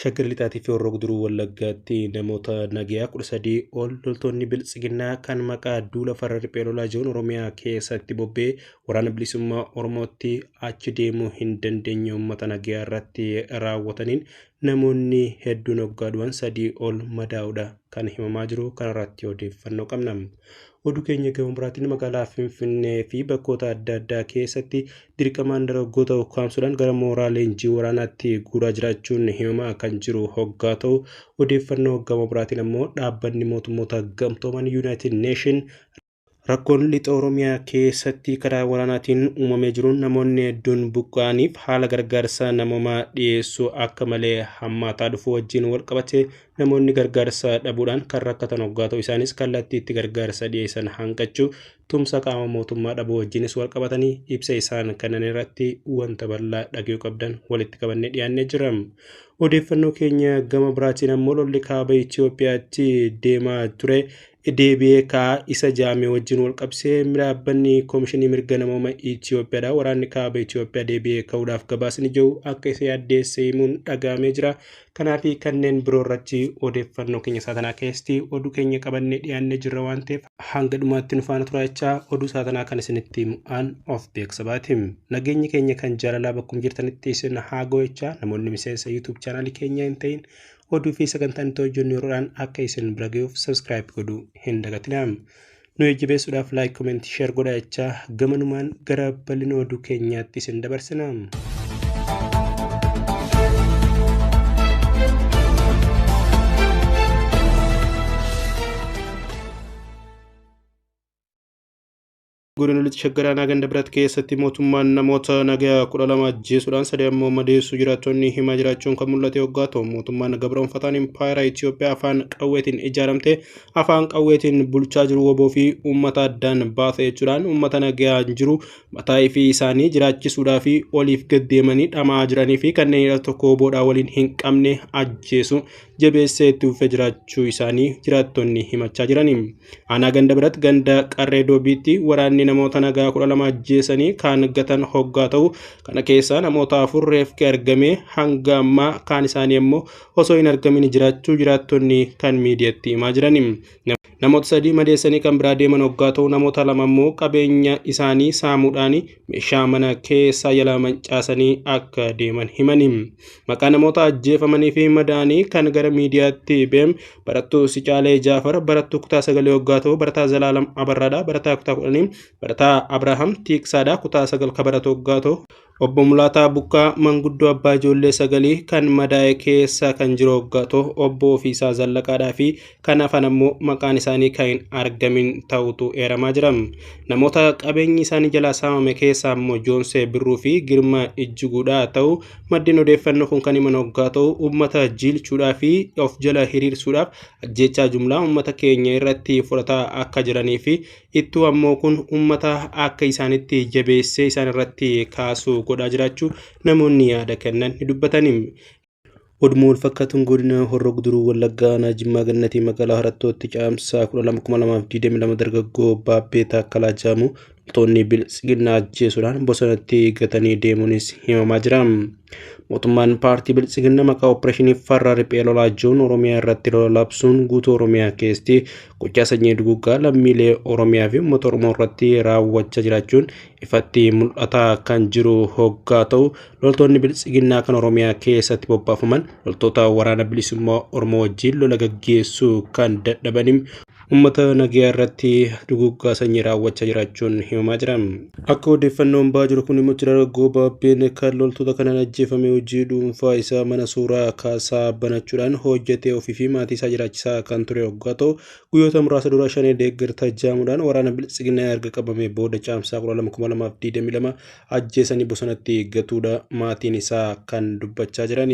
Shaggar Lixaatii fi Horroo Guduruu Wallaggaatti namoota nagayaa kudha sadii ol loltoonni biltsiginnaa kan maqaa duula farra riphee lolaa jiruun Oromiyaa keessatti bobbee waraana bilisummaa Oromootti achi deemuu hin dandeenye uummata nagayaa irratti raawwataniin namoonni hedduun hoggaa du'an sadii ol madaa'uudha kan himamaa jiru kanarratti odeeffannoo qabna. Oduu keenya gama biraatiin magaalaa Finfinnee fi bakkoota adda addaa keessatti dirqamaan dargaggoota ukkaamsuudhaan gara mooraa leenjii waraanaatti guuraa jiraachuun himamaa kan jiru hoggaa ta'u odeeffannoo gama biraatiin ammoo dhaabbanni mootummoota gamtooman Yuunaayitid Neeshin Rakkoon lixa Oromiyaa keessatti karaa waraanaatiin uumamee jiruun namoonni hedduun buqqa'aniif haala gargaarsa namoomaa dhiyeessuu akka malee hammaataa dhufuu wajjin walqabatee Namoonni gargaarsa dhabuudhaan kan rakkatan hoggaa ta'u isaanis kallattii itti gargaarsa dhiyeessan hanqachuu, tumsa qaama mootummaa dhabuu wajjinis wal qabatanii ibsa isaan kennan irratti wanta bal'aa dhagayuu qabdan walitti qabannee dhiyaannee jira. Odeeffannoo keenya gama biraatiin ammoo lolli kaaba Itoophiyaatti deemaa ture deebi'ee ka'a. Isa jaame wajjin wal qabsee dhaabbanni Koomishinii Mirga Namooma Itoophiyaadha. Waraanni kaaba Itoophiyaa deebi'ee ka'uudhaaf gabaasni jiru akka isa yaaddeesse himuun dhagahamee jira. Kanaa fi kanneen biroo irratti odeeffannoo keenya isaa tanaa keessatti oduu keenya qabannee dhiyaannee jirra waan ta'eef hanga dhumaatti nu faana turaa jechaa oduu isaa tanaa kan isinitti himu an of beeksa baati. Nageenyi keenya kan jaalalaa bakkum jirtanitti isin haa ga'u jechaa namoonni miseensa YouTube chaanaalii keenyaa hin ta'in oduu fi sagantaan itti hojjennu yeroodhaan akka isin bira ga'uuf subscribe godhuu hin dagatinaa. Nu jajjabeessuudhaaf like, comment, share godhaa jechaa gamanumaan gara bal'ina oduu keenyaatti isin dabarsina. Godina Lixa Shaggar Aanaa Ganda Birat keessatti mootummaan namoota nagaa kudha lama ajjeesuudhaan sadii ammoo madeessuu jiraattonni himaa jiraachuun kan mul'ate yoggaa ta'u mootummaan gabroonfataan impaayera Itoophiyaa afaan qawweetiin ijaaramte afaan qawweetiin bulchaa jiru woboo fi uummata addaan baasa jechuudhaan uummata nagaa jiru mataa fi isaanii jiraachisuudhaa fi oliif gaddeemanii dhama'aa jiranii fi kanneen tokko woboodhaa waliin hin qabne ajjeesu jabeessee itti uffee jiraachuu isaanii jiraattonni himachaa jiranii. Aanaa ganda biratti ganda qarree doobiitti waraanni namoota nagaa kudha lama ajjeesanii kaan gatan hoggaa ta'u kana keessaa namoota afur reefki argamee hanga ammaa kaan isaanii ammoo osoo hin argamin jiraachuu jiraattonni kan miidiyatti himaa jiran. Namoota sadii madeessanii kan biraa deeman hoggaa ta'u namoota lama ammoo qabeenya isaanii saamuudhaan meeshaa mana keessaa jalaa mancaasanii akka deeman himani. Maqaa namoota ajjeefamanii fi madaanii kan gara miidiyaatti beem barattuu Sicaalee Jaafar barattuu kutaa sagalee waggaa ta'u barataa Zalaalam Abarraadha barataa kutaa kudhanii barataa Abrahaam Tiiksaadha kutaa sagal ka baratu waggaa ta'u obbo Mulaataa Bukkaa manguddoo abbaa ijoollee sagalii kan madaa'e keessa kan jiru waggaa ta'u obbo Ofiisaa Zallaqaadhaa fi Kan hafan ammoo maqaan isaanii kan hin argamin ta'utu eeramaa jira. Namoota qabeenyi isaanii jalaa saamame keessaa ammoo Joonsee Birruu fi Girmaa Ijjiguudha ta'u maddeen odeeffannoo kun kan himan hoggaa ta'u uummata jiilchuudhaa fi of jala hiriirsuudhaaf ajjeechaa jumlaa uummata keenya irratti fudhataa akka jiranii fi ittuu ammoo kun uummata akka isaanitti jabeessee isaan irratti kaasuu godhaa jiraachuu namoonni yaada kennan ni dubbatanii. Oduma walfakkaatuun godina Horroo Guduruu Wallaggaa aanaa Jimmaa Gannatii magaalaa Harattootti caamsaa 12,2022 dargaggoo Baabbee Taakkalaa jedhamu loltoonni Biltsiginnaa ajjeesuudhaan bosonatti gatanii deemuunis himamaa jira. Mootummaan paartii Biltsiginnaa maqaa opereeshinii farra riphee lolaa jiruun Oromiyaa irratti lola labsuun guutuu Oromiyaa keessatti gochaa sanyii duguggaa lammiilee Oromiyaa fi uummata Oromoo irratti raawwachaa jiraachuun ifatti mul'ataa kan jiru hoggaa ta'u Loltoonni biltsiginnaa kan Oromiyaa keessatti bobbaafaman loltoota waraana bilisummaa Oromoo wajjin lola gaggeessuu kan dadhabaniin uummata nagayaa irratti duguuggaa sanyii raawwachaa jiraachuun himamaa jira. Akka odeeffannoon ba'aa jiru kun immoo Jeneraal Goobaabbeen kan loltoota kanaan ajjeefame hojii dhuunfaa isaa mana suuraa kaasaa banachuudhaan hojjetee ofii fi maatii isaa jiraachisaa kan ture hoggaa ta'u guyyoota muraasa dura shanee deeggarta jaamuudhaan waraana biltsiginnaa erga qabamee booda caamsaa 12,2022 ajjeesanii bosonatti gatuudha maatiin isaa kan dubbachaa jiran.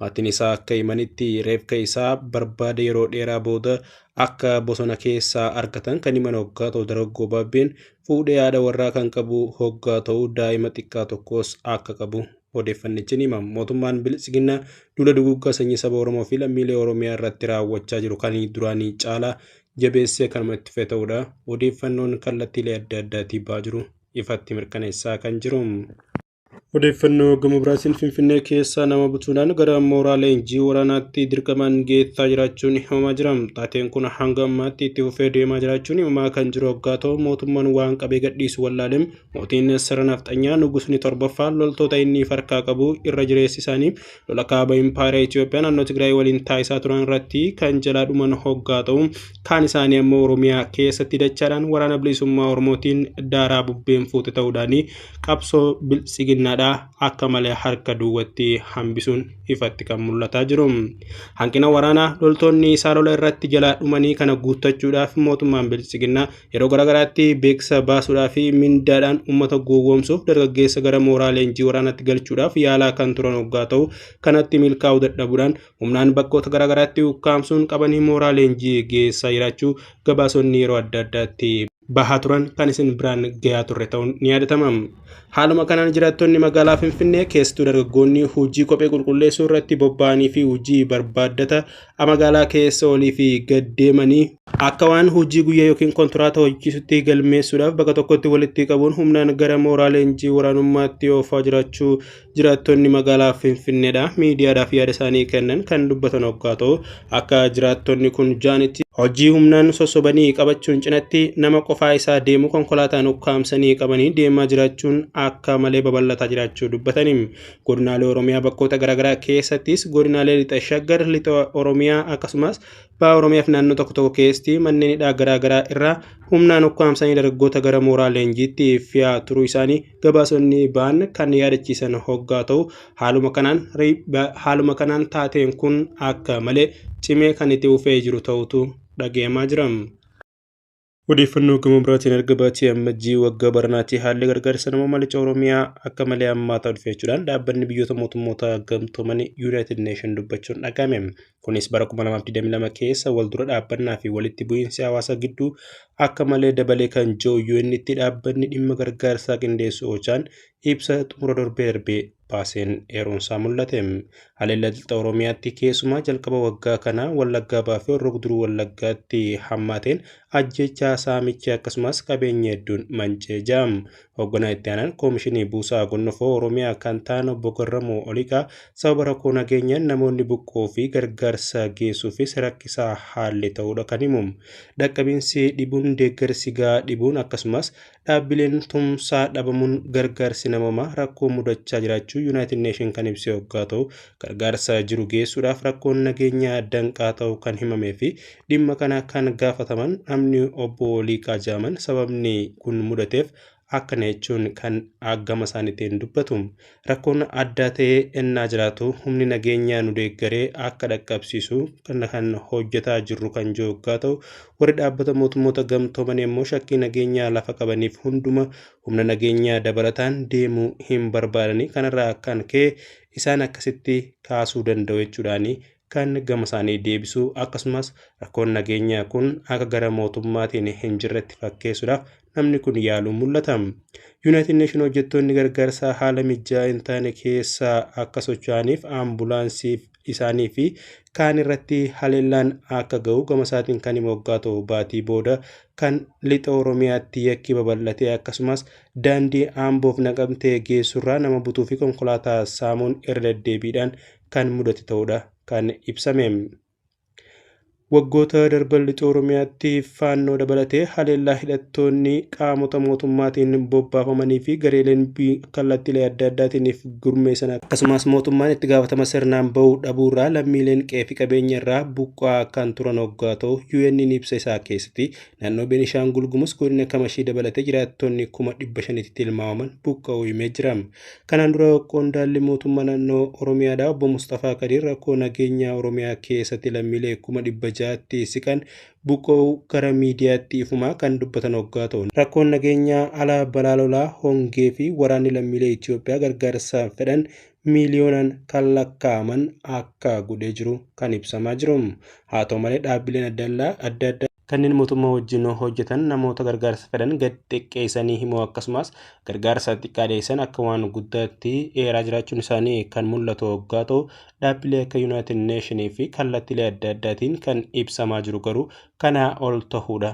Maatiin isaa akka himanitti reefka isaa barbaada yeroo dheeraa booda akka bosona keessaa argatan kan himan hoggaa ta'u dargaggoo baabbeen fuudhee haadha warraa kan qabu hoggaa ta'u daa'ima xiqqaa tokkos akka qabu odeeffannichi ni hima. Mootummaan Biltsiginnaa duula duguuggaa sanyii saba Oromoo fi lammiilee Oromiyaa irratti raawwachaa jiru kan duraanii caalaa jabeessee kanuma itti fufee ta'uudha odeeffannoon kallattiilee adda addaatii ba'aa jiru ifatti mirkaneessaa kan jiru. Odeeffannoo gama biraatiin Finfinnee keessaa nama butuudhaan gara mooraa leenjii waraanaatti dirqamaan geessaa jiraachuun himamaa jira. Taateen kun hanga ammaatti itti fufee deemaa jiraachuun himamaa kan jiru hoggaa ta'u mootummaan waan qabee gadhiisu wallaaleen mootiin sirna nafxanyaa nugusni torbaffaa loltoota inni farkaa qabu irra jireessi isaanii lola kaaba impaayera Itoophiyaa naannoo Tigraay waliin taasisaa turan irratti kan jalaa dhuman hoggaa ta'u kaan isaanii ammoo Oromiyaa keessatti dachaadhaan waraana bilisummaa Oromootiin daaraa bubbeen fuute ta'uudhaan qabsoo biltsiginnaadhaa akka malee harka duwwatti hambisuun ifatti kan mul'ataa jiru. Hanqina waraanaa loltoonni isaa lola irratti jalaa dhumanii kana guuttachuudhaaf mootummaan biltsiginnaa Yeroo garaagaraatti beeksisa baasuudhaa fi mindaadhaan uummata gowwoomsuuf dargaggeessa gara mooraa leenjii waraanaatti galchuudhaaf yaalaa kan turan hoggaa ta'u kanatti milkaa'uu dadhabuudhaan humnaan bakkoota garaagaraatti ukkaamsuun qabanii mooraa leenjii geessaa jiraachuu gabaasonni yeroo adda addaatti bahaa turan kan isin biraan gayaa turre ta'uun ni yaadatama. Haaluma kanaan jiraattonni magaalaa Finfinnee keessattuu dargaggoonni hojii kophee qulqulleessuu irratti bobba'anii fi hojii barbaaddata magaalaa keessa olii fi gad deemanii akka waan hojii guyyaa yookiin kontiraata hojjechiisutti galmeessuudhaaf bakka tokkotti walitti qabuun humnaan gara mooraa leenjii waraanummaatti oofaa jiraachuu jiraattonni magaalaa Finfinneedha miidiyaadhaaf yaada isaanii kennan kan dubbatan oggaa ta'u akka jiraattonni kun jaanitti hojii humnaan sossobanii qabachuun cinatti nama qofaa isaa deemu konkolaataan ukkaamsanii qabanii deemaa jiraachuun akka malee babal'ataa jiraachuu dubbatanii Godinaalee Oromiyaa bakkoota garaagaraa keessattis godinaalee lixa shaggar, lixa Oromiyaa akkasumas baha Oromiyaa fi naannoo tokko tokko keessatti manneen hidhaa garaagaraa irraa humnaan ukkaamsanii dargaggoota gara mooraa leenjiitti fiyaa turuu isaanii gabaasonni ba'an kan yaadachiisan hoggaa ta'u haaluma kanaan haaluma kanaan taateen kun akka malee cimee kan itti fufee jiru ta'utu dhagahamaa jira. Odeeffannoo gama biraatiin erga baatii ammajjii waggaa baranaatti haalli gargaarsa namoomaa lixa Oromiyaa akka malee hammaataa dhufe jechuudhaan dhaabbanni biyyoota mootummoota gamtoomanii Yuunaayitid Neeshin dubbachuun dhaga'ame. Kunis bara 2022 keessa wal dura dhaabbannaa fi walitti bu'iinsi hawaasa gidduu akka malee dabalee kan jiru UN'tti dhaabbanni dhimma gargaarsaa qindeessu Ochaan ibsa xumura darbee darbee baaseen eeruunsaa mul'ate. Haleellaa Lixa Oromiyaatti keessumaa jalqaba waggaa kanaa Wallaggaa Bahaa fi Horroo Guduruu Wallaggaatti hammaateen ajjeechaa saamichi akkasumas qabeenyi hedduun manca'ee jira. Hoogganaa itti aanaan Koomishinii Buusaa Gonnofoo Oromiyaa kan ta'an obbo Garramuu Oliiqaa sababa rakkoo nageenyaan namoonni buqqoo fi gargaarsa geessuufis rakkisaa haalli ta'uudha kan himu. Dhaqqabiinsi dhibuun deeggarsi gahaa dhibuun akkasumas Dhaabbileen tumsaa dhabamuun gargaarsi namoomaa rakkoo mudachaa jiraachuu Yuunaayitid Neeshin kan ibse hoggaa ta'u, gargaarsa jiru geessuudhaaf rakkoon nageenyaa danqaa ta'u kan himamee fi dhimma kana kan gaafataman namni obbo Liiqaa Jaaman sababni kun mudateef akkana jechuun kan gama isaaniitiin dubbatu. Rakkoon addaa ta'ee ennaa jiraatu humni nageenyaa nu deeggaree akka dhaqqabsiisu kana kan hojjetaa jirru kan jiru yoggaa ta'u warri dhaabbata mootummoota gamtooman immoo shakkii nageenyaa lafa qabaniif hunduma humna nageenyaa dabalataan deemuu hin barbaadanii kanarraa kan ka'e isaan akkasitti kaasuu danda'u jechuudhaanii kan gama isaanii deebisuu akkasumas rakkoon nageenyaa kun akka gara mootummaatiin hin jirretti fakkeessuudhaaf namni kun yaaluun mul'ata. Yuunaayitid Neeshin hojjettoonni gargaarsaa haala mijaa'aa hin taane keessa akka socho'aniif ambulaansiif isaanii fi kaan irratti haleellaan akka ga'u gama isaatiin kan hima waggaa ta'u baatii booda kan lixa Oromiyaatti yakki babal'ate akkasumas daandii Amboof naqamtee geessurraa nama butuu fi konkolaataa saamuun irra deddeebiidhaan kan mudate ta'uudha kan ibsame. Waggoota darban lixa Oromiyaatti faannoo dabalatee haleellaa hidhattoonni qaamota mootummaatiin bobbaafamanii fi gareeleen kallattiilee adda addaatiiniif gurmeessan akkasumas mootummaan itti gaafatama sirnaan ba'uu dhabuurraa lammiileen qe'ee fi qabeenya irraa buqqa'aa kan turan hoggaa ta'u UN'n ibsa isaa keessatti naannoo Beenishaangul Gumuz godina Kamashii dabalatee jiraattonni kuma dhibba shanitti tilmaamaman buqqa'uu himee jira. Kanaan dura qondaalli mootummaa naannoo Oromiyaadha obbo Mustafaa Kadiir rakkoo nageenyaa Oromiyaa keessatti lammiilee kuma dhibba ja'atti siqan buqqa'uu gara miidiyaatti ifumaa kan dubbatan hoggaa ta'u rakkoon nageenyaa alaa balaa lolaa hongee fi waraanni lammiilee Itoophiyaa gargaarsa fedhan miiliyoonaan kan lakkaa'aman akka godhee jiru kan ibsamaa jiru. Haa ta'u malee dhaabbileen adda addaa Kanneen mootummaa wajjin hojjetan namoota gargaarsa fedhan gad xiqqeessanii himuu akkasumas gargaarsa xiqqaa dhiyeessan akka waan guddaatti eeraa jiraachuun isaanii kan mul'atu hoggaa ta'u dhaabbilee akka Yuunaayitid Neeshinii fi kallattiilee adda addaatiin kan ibsamaa jiru garuu kanaa ol ta'uudha.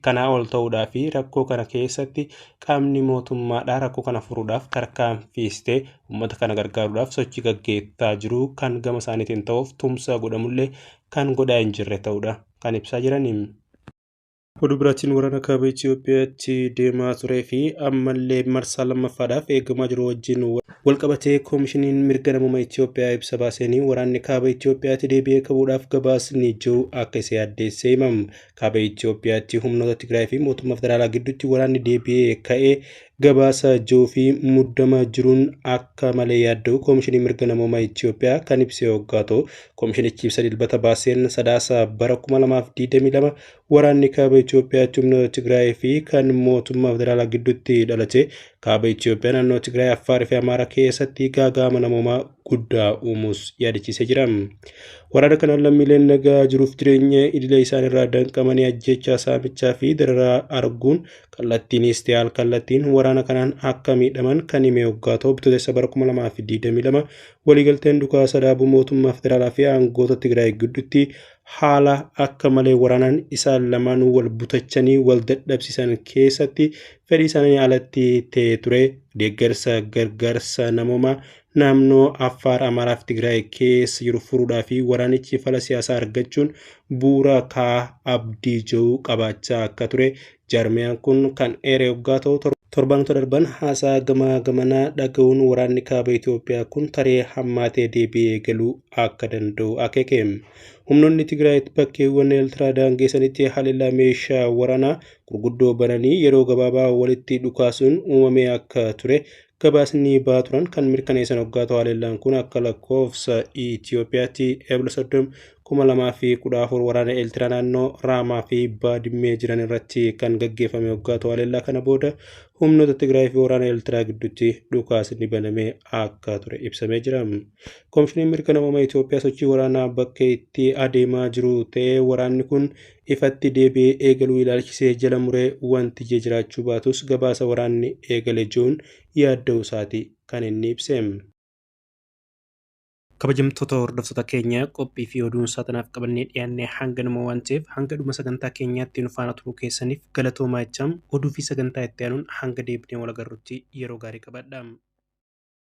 kanaa ol ta'uudhaa fi rakkoo kana keessatti qaamni mootummaadhaa rakkoo kana furuudhaaf tarkaanfiistee uummata kana gargaaruudhaaf sochii gaggeessaa jiru kan gama isaaniitiin ta'uuf tumsa godhamullee kan godhaa hin jirre ta'uudha. kan ibsaa jiraniim. Oduu biraatiin waraana kaaba Itiyoophiyaatti deemaa turee fi ammallee marsaa lammaffaadhaaf eegamaa jiru wajjin walqabatee koomishiniin mirga namuma Itiyoophiyaa ibsa baaseenii waraanni kaaba Itiyoophiyaatti deebi'ee kabuudhaaf gabaasni jiru akka isa yaaddeessee himam. Kaaba Itiyoophiyaatti humnoota Tigraay fi mootummaa federaalaa gidduutti waraanni deebi'ee ka'e Gabaasa ji'uu fi muddama jiruun akka malee yaadda'u Koomishinii Mirga Namoomaa Itiyoophiyaa kan ibse hoggaa ta'u, koomishinichi ibsa dilbata baaseen sadaasa bara 2022 waraanni kaaba Itiyoophiyaa humna Tigraay fi kan mootummaa federaalaa gidduutti dhalate kaaba Itiyoophiyaa naannoo Tigraay, Affaar fi Amaaraa keessatti gaaga'ama namoomaa guddaa uumuus yaadachiisee jira. Waraana kanaan lammiileen nagaa jiruuf jireenya idilee isaaniirraa danqamanii ajjeechaa saamichaa fi dararaa arguun kallattiinis ta'e al-kallattiin waraana kanaan akka miidhaman kan hime hoggaa ta'u bitootessa bara 2022 waliigalteen dhukaasa dhaabuu mootummaa federaalaa fi aangoota Tigraay gidduutti haala akka malee waraanaan isaan lamaanuu wal butachanii wal dadhabsiisan keessatti fedhii isaanii alatti ta'ee ture deeggarsa gargaarsa namoomaa naannoo Affaar, Amaaraa fi Tigraay keessa jiru furuudhaa fi waraanichi fala siyaasaa argachuun bu'uura kaa abdii jiru qabaachaa akka ture jaarmiyaan kun kan eeree hoggaa ta'u torbaanota darban haasaa gamaa gamanaa dhaga'uun waraanni kaaba Itoophiyaa kun taree hammaatee deebi'ee galuu akka danda'u akeeke. Humnoonni Tigraay bakkeewwan Eeltiraa daangeessanitti haleellaa meeshaa waraanaa gurguddoo bananii yeroo gabaabaa walitti dhukaasuun uumamee akka ture gabaasni ba'aa turan kan mirkaneessan hoggaa ta'u haleellaan kun akka lakkoofsa Itoophiyaatti Eebla 30 2014 waraana Eeltiraa naannoo Raamaa fi Baadimmee jiran irratti kan gaggeeffame hoggaa ta'u haleellaa kana booda humnoota Tigraay fi waraana Eeltiraa gidduutti dhukaasni banamee akka ture ibsamee jira. Komishiniin mirga namooma Itoophiyaa sochii waraanaa bakka itti adeemaa jiru ta'ee waraanni kun ifatti deebi'ee eegaluu ilaalchisee jala muree wanti ije jiraachuu baatus gabaasa waraanni eegale je'uun yaadda'uu isaati kan inni ibse. Kabajamtoota hordoftoota keenya qophii fi oduun saatanaaf qabannee dhiyaanne hanganuma waan ta'eef hanga dhuma sagantaa keenyaatti nu faana turuu keessaniif galatoomaa jechaa oduu fi sagantaa itti aanuun hanga deebinee wal agarrutti yeroo gaarii qabaadha.